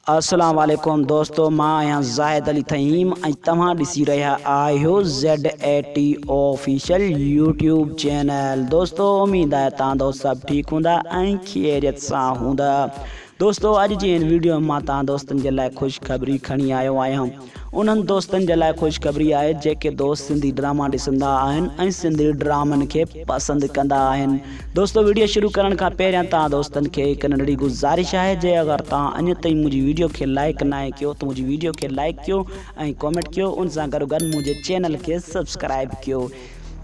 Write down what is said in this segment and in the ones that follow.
السلام عليڪم دوستو مان آهيان زاهد علي تھيم ۽ توهان ڏسي رهيا آهيو ZATO آفيشل يوٽيوب چينل دوستو اميد آهي تان دوست سڀ ٺيڪ هوندا ۽ خيريت سان هوندا دوستو اڄ جي ان ويڊيو مان تان دوستن جي لاء خوشخبري کڻي آيو آهيان انهن دوستن جي لاء خوشخبري آهي جيڪي دوست سنڌي ڊراما ڏسندا آهن ۽ سنڌي ڊرامن کي پسند ڪندا آهن دوستو ويڊيو شروع ڪرڻ کان پهريان توهان دوستن کي هڪ ننڍڙي گذارش آهي جي اگر توهان اڃ تائين منهنجي ويڊيو کي لائڪ ناهي ڪيو ته منهنجي ويڊيو کي لائڪ ڪيو ۽ ڪمينٽ ڪيو ان سان گڏوگڏ منهنجي چينل کي سبسڪرائب ڪيو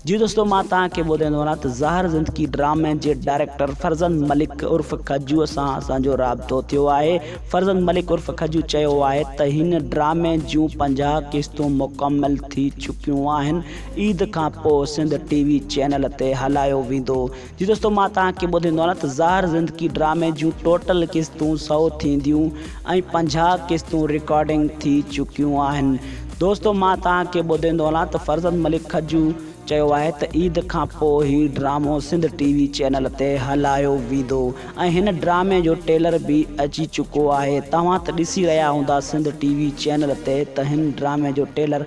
جي دوستو مان توهان کي ٻڌائيندو وڃان ته زهر زندگي ڊرامي جي ڊائريڪٽر فرزند ملڪ عرف کجو سان اسان جو رابطو ٿيو آهي فرزند ملڪ عرف کجو چيو آهي ته هن ڊرامي جون پنجاهه قسطون مڪمل ٿي چڪيون آهن عيد کان پوء سنڌ ٽي وي چينل تي هلايو ويندو جي دوستو مان توهان کي ٻڌيندو آهيان ته زهر زندگي ڊرامي جون ٽوٽل قسطون سؤ ٿينديون ۽ پنجاهه قسطون رڪارڊنگ ٿي چڪيون آهن دوستو مان توهان کي ٻڌيندو هلان ته فرزند ملڪ کجو چيو آهي ته عيد کان پو هي ڊرامو سنڌ ٽي وي چينل تي هلايو ويندو ۽ هن ڊرامي جو ٽيلر به اچي چڪو آهي توهان ته ڏسي رهيا هوندا سنڌ ٽي وي چينل تي ته هن ڊرامي جو ٽيلر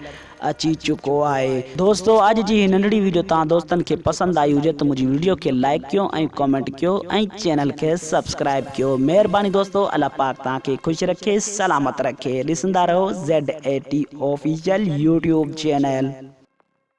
اچي چڪو آهي. دوستو اڄ جي هي ننڍڙي ويڊيو توهان دوستن کي پسند آئي هجي ته منهنجي ويڊيو کي لائيڪ ڪيو ۽ ڪمينٽ ڪيو ۽ چينل کي سبسڪرائيب ڪيو مهرباني دوستو الله پاڪ توهان کي خوش رکي سلامت رکي ڏسندا رهو ZATOfficial يوٽيوب چينل.